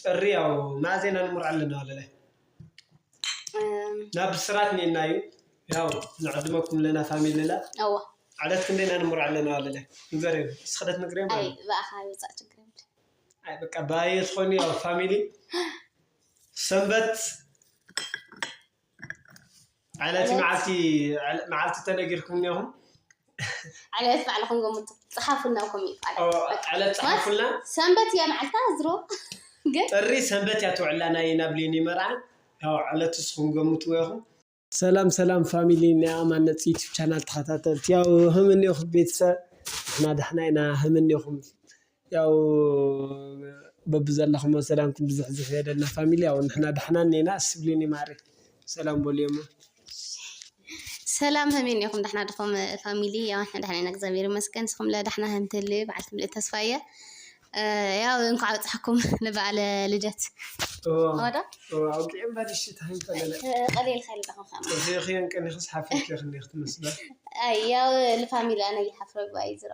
ጥሪ ያው ናዜና ንሙር ኣለና ወለለ ናብ ብስራት ኔና እዩ ያው ንዕድመኩም ለና ፋሚልላ እዎ ዓለት ክንደና ንሙር ኣለና ወለለ ንገር እዩ ስክደት ንግር ኣይ ብኣኻ ይወፃእ ችግር የብሉ ኣይ በቃ ባየ ዝኾኑ ያው ፋሚሊ ሰንበት ዕለት ዕለት? መዓልቲ ዕለ- መዓልቲ ተነጊርኩም እኒኹም ዕለት ባዕልኹም ገምቱ ፀሓፉልና ኣብ ኮሜንት ማለት ኦ፣ በቃ። ዕለት ፀሓፉልና ሰንበት እያ መዓልታ ዝሮ ግን ጥሪ ሰንበት እያ ትውዕላ ናይ ናብሊኒ መርዓ ያው ዕለት እስኹም ገምትዎ ኢኹም ሰላም ሰላም ፋሚሊ ናይ ኣማነፅ ዩቱብ ቻናል ተኸታተልቲ ያው ህም እኒኹም ቤተሰብ ንሕና ዳሕና ኢና ህም እኒኹም ያው በብዘለኹሞ ሰላምኩም ብዝሕዝሕ ይበለልና ፋሚሊ ያው ንሕና ዳሕና እኔና እሺ ብሉኒ ማሬ ሰላም በሉዮሞ። ሰላም ሀሜን ኔኹም ዳሕና ድኹም ፋሚሊ ያው ንሕና ዳሕና ኢና እግዚኣብሔር ይመስገን ንስኹም ለ ዳሕና ሀም ትህልዩ በዓል ትምልእት ተስፋ እየ ያው እንኳዕ ኣብፀሐኩም ንበዓለ ልደት ወዶ ኣውቂዕ እምበር እሺ ታይም ፈለለ ቀሊል ኸይል ዳኹም ከማ እዚኺ እንቅኒኽስ ሓፍርኪ ክንዲኽ ትመስለ ኣይ ያው ልፋሚሊ ኣነ ይሓፍረ ጓይ ዝሮ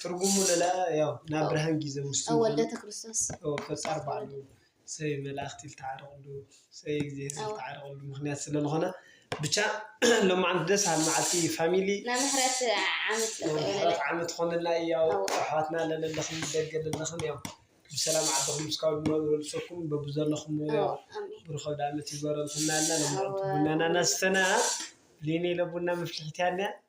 ትርጉሙ ለላ ያው ናብ ብርሃን ጊዘ ምስቱ ወልደተ ክርስቶስ ፈጣር ባዕሉ ሰይ መላእክቲ ዝተዓረቕሉ ሰይ እግዚኣብሔር ዝተዓረቕሉ ምክንያት ስለ ዝኾነ ብቻ ሎማዓንቲ ደስ በሃሊ መዓልቲ እዩ ፋሚሊ ናይ ምሕረት ዓመት ምሕረት ዓመት ኾነልና እዩ ያው ኣሕዋትና ለለለኽም ደገ ለለኽም ያው ብሰላም ዓድኹም እስካብ ንነብረሉ ሰኩም በብዘለኹም ያው ብሩኸ ኣውደኣመት ይግበረልኩም ናልና ሎማዓንቲ ቡናና ናስተና ሊኒ ለቡና መፍልሒት ያንያ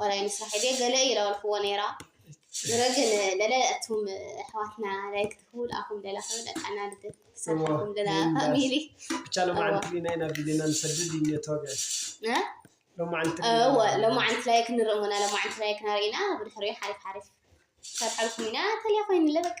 ወላ ይንስራሕ ኢለ ገለ እየ ለበልክዎ ነይራ ዝረ ግን ለለ እቱም ኣሕዋትና ላይክ ትህቡ ልኣኹም ለላ ክብል ኣቃና ልደት ክሰርሓኩም ለላ ፋሚሊ ብቻ ለማዓንቲ ሊና ኢና ቢሊና ንሰድድ እዩ ተወግዐ ሎማዓንቲ ላይክ ንርኢ ሞና ሎማዓንቲ ላይክ ናርኢና ብድሕሪኡ ሓሪፍ ሓሪፍ ሰርሓልኩም ኢና ተልያ ኮይንለ በቃ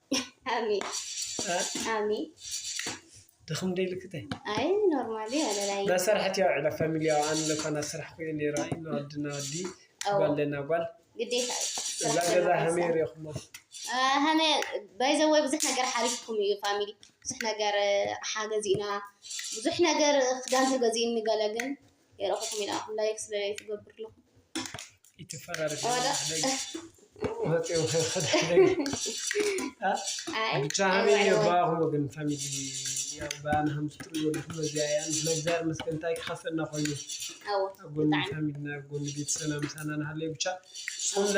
ኣሜን ኣሜን ድኽም ደይልክተይ ኣይ ኖርማሊ ኣለላይ ናሰርሐት ያው ዕለ ፋሚሊያው ኣን ለኳ ናስራሕ ኩየ ነይራ ኢና ወዲ ና ወዲ ጓል ለና ጓል ግዴታ እዛ ገዛ ሃመይ ሪኹሞ ሃመ ባይዘወይ ብዙሕ ነገር ሓሪፍኩም እዩ ፋሚሊ ብዙሕ ነገር ሓገዚእና ብዙሕ ነገር ክዳን ተገዚእኒ ገለ ግን የረኹኩም ይልኣኹም ላይክ ስለ ትገብሩ ኣለኹም ይትፈራረሽ ብቻህን የባኹም ወገን ፋሚሊ ብኣን ሃምትጥሩ ዘለኹም እዚኣ እያ ምስለ እግዚኣብሔር መስገን እንታይ ክኸፍለና ኮይኑ ኣብ ጎኒ ፋሚልና ኣብ ጎኒ ቤተሰብና ምሳና ንሃለዩ ብቻ ስለ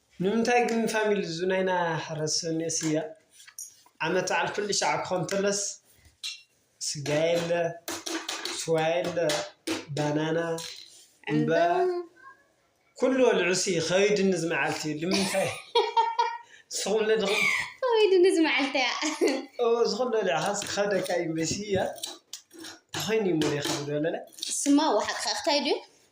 ንምንታይ ግን ፋሚሊ እዚ ናይና ሕረስ ሰኑየ ስጋ ዓመት በዓል ኩሉ ሻዕ ክኾን ተሎስ ስጋ የለ ስዋ የለ ባናና ዕምበባ ኩሉ ወልዑ ሲ ከቢድኒ እዚ መዓልቲ እዩ ልምንታይ ንስኹም ለድኹም ከቢድኒ እዚ መዓልቲ እያ እዎ እዚ ኩሉ ወሊዕኻ ክኸብደካ እዩ እምበይ ስጋ እንተኾይኑ እዩ እሞ ዘይኸብድ ወለለ እሱማ ዋሓቅኻ ክታይ ድዩ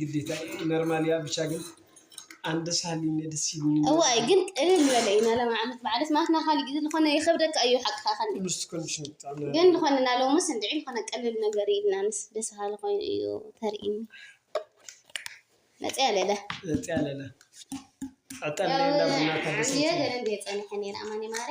ግዴታ ነርማል እያ ብቻ ግን ኣንድ ሳሊ ደስ ይብኒ እዋይ ግን ቅልል ዝበለ እዩ ናሎም ዓመት በዓል ስማትና ካሊእ ግዜ ዝኾነ ይኸብደካ እዩ ሓቅካ ከን ምስቲ ኮንዲሽን ብጣዕሚ ግን ዝኾነ ናሎምስ እንድዒ ዝኾነ ቅልል ነገር ኢልና ምስ ደስ በሃሊ ኮይኑ እዩ ተርእይኒ መፅያ ለለ መፅያ ለለ ዕጠን ለለ ቡና ተደሰ ገለ እንደ ፀኒሐ ነይረ ኣማኒ ማሪ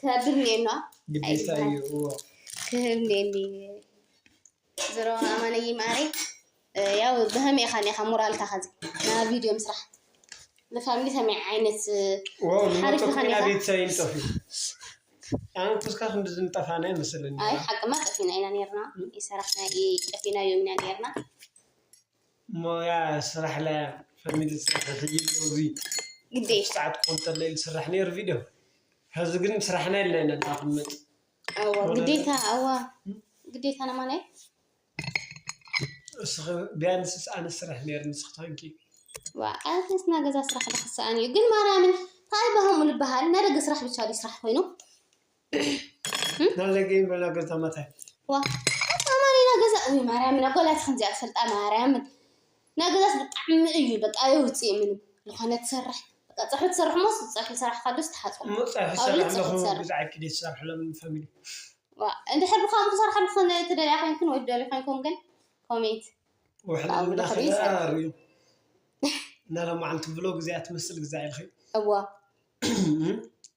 ክህብ እኒኤና ግዴታ እዩ እዎ ክህብ እኒኤኒ ዝሮ ኣማነይ ማረይ ያው ብኸመይ ኢኻ ኒኻ ሞራልካ ከዚ ና ቪድዮ ምስራሕ ንፋሚሊ ከመይ ዓይነት ሓሪፍ ኢኻ ኒኻ ቤተሰብ ይንጠፍ እዩ ኣነ ኩስካ ክንድዚ ንጠፋና ይመስለኒ ኣይ ሓቅማ ጠፊና ኢና ነርና ይሰራሕና ጠፊና እዮም ኢና ነርና ሞያ ስራሕ ላያ ፈሚሊ ስራሕ ሕጂ ሎዚ ግዴ ቁርስ ሰዓት ክኾን ተሎ ኢሉ ዝስራሕ ነይሩ ቪድዮ ሕዚ ግን ስራሕና ኢልና ኢና ንቕመጥ ኣዋ ሆነ ግዴታ ኣዋ ግዴታ ነማን እየ እስኺ ቢያንስስ ኣነ ስራሕ ነይሩ ንስኺ ታንኪ ዋ ኣነስ ናይ ገዛ ስራሕ ዶ ክሰኣን እዩ ግን ማርያምን ታይ ባህሙ ልበሃል ናይ ደገ ስራሕ ብቻ ድዩ ስራሕ ኮይኑ ናለገኝ በላ ገዛ መታይ ዋ ኣማ ሌላ ገዛ እ ማርያምን ኣጓላት ከምዚኣ ፈልጣ ማርያምን ናይ ገዛስ ብጣዕሚ እዩ በቃ የውፅእ ምንም ዝኾነ ትሰርሕ በቃ ፀሑ ትሰርሕ ሞስ ፀሑ ሰራሕ ካዶስ ትሓፆ እሞ ፀብሒ ካብ ሰራሕ ልፅሑ ኣለኹ ትሰርሕ ብዛዕባ ክደ ዝሰርሕሎም ፋሚሊ ዋ እንድሕር ብከምኡ ክሰርሓ ዝኾነ ትደልያ ኮይንኩን ወይ ትደልዩ ኮይንኩም ግን ኮሜንት ውሕሊ ብጣዕሚ ዝምና ብልኽሪ ከዳ ይሰርሕ ርዩ እናለማዓንቲ ብሎ ግዜ ኣትመስል ግዜ ኢልኺ እዋ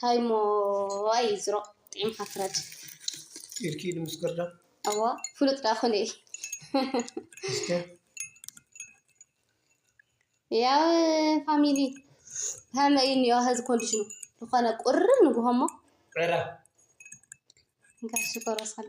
ታይ እሞ ኣይ ዝሮ ጢዒምካ ፍረድ ኢድኪ ኢድ ምስ ግርዳ ኣዋ ፍሉጥ ዳ ኩነ ያው ፋሚሊ ከመይ እኒኦ ሀዚ ኮንዲሽኑ ዝኾነ ቁርብ ንጉሆ እሞ ዕረ እንካ ሽኮር ወስኸለ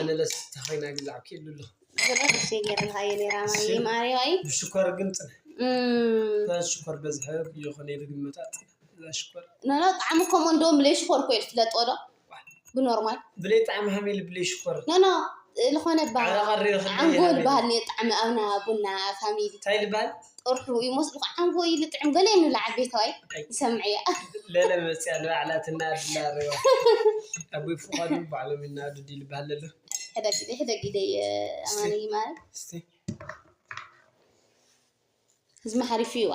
ኣነለስ ተኸይና ግዛዕ ክኢሉ ኣለኹ ብሽኮር ግን ፅነ ሽኮር በዝሐ የኾነ ኢሉ ግመታ ሽኮር ነነ ጣዕሚ ከምኡ እንደውም ብለይ ሽኮር ኮ ትለጦ ዶ ብኖርማል ብለይ ጣዕሚ ሃመ ኢሉ ብለይ ሽኮር ነነ ዝኾነ ዓንጎል ባህል ጣዕሚ ኣብና ቡና ፋሚሊ እንታይ ልባል ጥርሑ ይመስሉ ከዓ ንጎ ይልጥዕም ገለ ይንብላ ዓበይቲ ወይ ይሰምዕያ ለለ መፅያ ንባዕላ ትናድላ ረዋ ኣቦይ ፍቃዱ ባዕሎም ይናዱ ዲል ባል ኣሎ ሕደግ ግደ ሕደግ ግደ ኣማኒ ማለት እስቲ ህዝሚ ሓሪፍ እዩዋ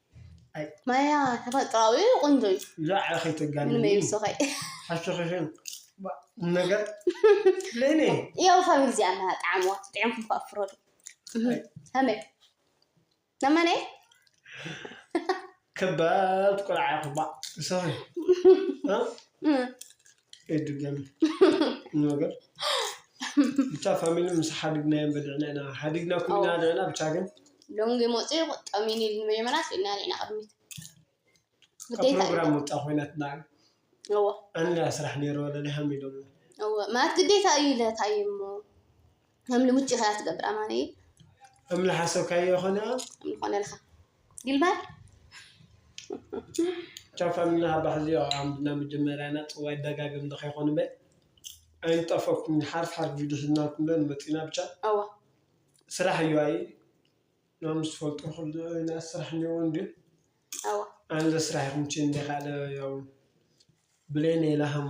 ማያ ተፈጥራዊ ቆንጆ እዩ ዛዕባ ከይተጋኒ ምንም ይብስኸይ ሓሸኸሸን ነገር ለኔ ያው ፋሚሊ እዚኣ እና ጣዕምዋ ጥዕምኩም ከዓ ፍረዱ ከመይ ነመነ ከባድ ቆልዓ ክባ ሰኺ ኣይድገም ነገር ብቻ ፋሚሊ ምስ ሓዲግና እዮም በልዕና ኢና ሓዲግና ኩልና ልዕና ብቻ ግን ሎንግ ሞፂ ቁጠሚ ኒል ንመጀመርያ ስኢልና ሪእና ቅድሚት ፕሮግራም ወፃ ኮይናትና እዎ ኣንላ ስራሕ ነይሮ ለሊሃም ኢሎም ማለት ግዴታ እዩ ኢለ እንታይ እሞ ከም ልሙጭ ኢኻ ትገብር ኣማነይ እምሊ ሓሰብካዮ ይኾነ እምሊ ኮነልካ ግልባል ቻፋምና ሃባሕ እዚኦ ኣምድና መጀመርያና ፅዋይ ደጋግም ንኸይኮኑ በ ኣይንጠፈኩም ሓርፍ ሓርፍ ቪድዮ ሒዝናልኩም ዶ ንመፅና ብቻ ኣዋ ስራሕ እዩ ኣይ ናም ዝፈልጡ ክሉ ናይ ስራሕ እኒኦ እንዲ ኣዋ ኣንዘ ስራሕ ይኹም ችን እንደ ካልእ ያው ብለይ ነይላሃም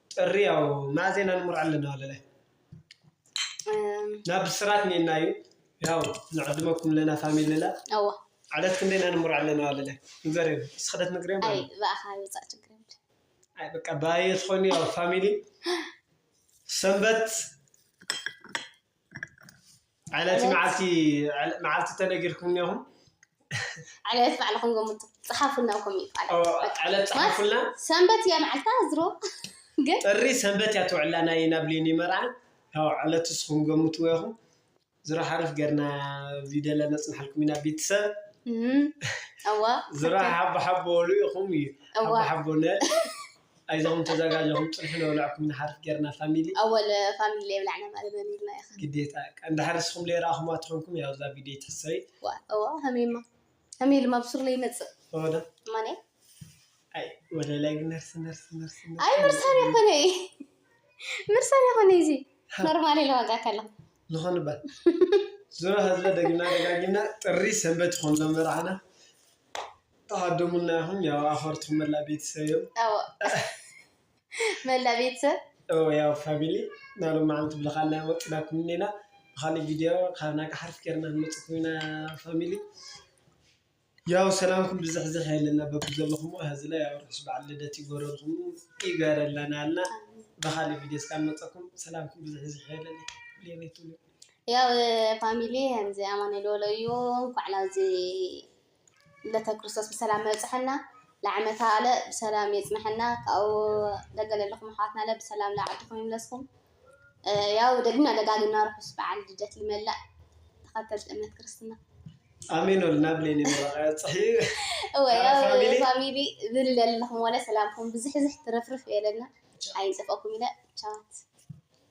ጥሪ ያው ማእዜ ኢና ንመርዖ ኣለና ወለላይ ናብ ብስራት ኔና እዩ ያው ንዕድመኩም ለና ፋሚልላ እዋ ዓለት ክንደ ኢና ንመርዖ ኣለና ወለላይ ንገር ስክደት ንግሪም ኣይ ብኣኻ ይውፃእ ችግር ኣይ በቃ ባየ ትኾኒ ያው ፋሚሊ ሰንበት ዕለት መዓልቲ ዕለ- መዓልቲ ተነጊርኩም እኒኹም ዕለት ባዕልኹም ገምቱ ፀሓፉና ኣብ ኮሜንት ማለት እዩ። በቃ። ዕለት ፀሓፉልና ሰንበት እያ መዓልታ ዝሮ ግን ጥሪ ሰንበት እያ ትውዕላ ናይ ናብ ሊኒ መርዓ ያው ዕለት እስኹም ገምትዎ ኢኹም ዝሮ ሓርፍ ገርና ቪድዮ ለነፅናሓልኩም ኢና ቤተሰብ እም፣ እዋ ዝሮ ሓቦ ሓቦ በሉ ኢኹም እዩ እዋ። ሓቦ ሓቦ ነ ኣይዞኹም ተዛጋጀኹም ፅንሒ ነብለዐኩም ንሓርፍ ገይርና ፋሚሊ። ኣወል ፋሚሊ ለይብላዕና ማለ መን ኢልና ያኸ። ግዴታ እቃ እንድሕር ንስኹም ለይረኣኹምዋ ተኾንኩም ያው እዛ ቪድዮ ኣይትሕሰቢ። ዋ እዋ ሀሜማ ሀሜ ድማ ብሱር ለይመፅእ እወ ዶ ማንያ ኣይ ወደ ላይ ግን ነርሲ ነርሲ ነርሲ ነርሲ ኣይ ምርሳን የኾነ እዩ ምርሳን የኾነ እዩ እዚ ኖርማል ኢለ ዋጋ ከለኹ ዝኾነ ባ ዙሮ ህዝበ ደግና ደጋጊምና ጥሪ ሰንበት ይኾን ሎም መርዓና ተሃደሙልና ኢኹም ያው ኣኸርትኹም መላ ቤተሰብ እዮም ኣዎ መላ ቤተሰብ እዎ ያው ፋሚሊ ናብ ሎማዓንቲ ብልኻልና ወጢናኩም እኒና ብኻሊእ ቪድዮ ካብ ናጋ ሓርፍ ገይርና ክንመፅኩም ኢና ፋሚሊ ያው ሰላምኩም ብዝሕዝሕ የለና በብዘለኹም ሀዚ ላይ ያው ርሑስ በዓል ልደት ይጎረልኩም ይገረለና እና ብኻሊእ ቪድዮ እስካ ንመፀኩም ሰላምኩም ብዝሕዝሕ የለና ሌቤቱ ያው ፋሚሊ ከምዚ ኣማኑኤል ወሎ እዩ እንኳዕ ናብዚ ልደተ ክርስቶስ ብሰላም ኣብፀሐና ለዓመተ ኣለ ብሰላም የፅነሐና ካብኡ ደገ ለለኹም ኣሕዋትና ለ ብሰላም ለዓድኹም ይምለስኩም ያው ደግምና ደጋግምና ርሑስ በዓል ልደት ልመላእ ተኸተልቲ እምነት ክርስትና ኣሜን ወልና ብሌኒ መባፅሒ እወ ያው ፋሚሊ ዝል ለለኹም ወለ ሰላምኩም ብዝሕዝሕ ትረፍርፍ የለና ኣይንፅፈኩም ኢለ ቻዋት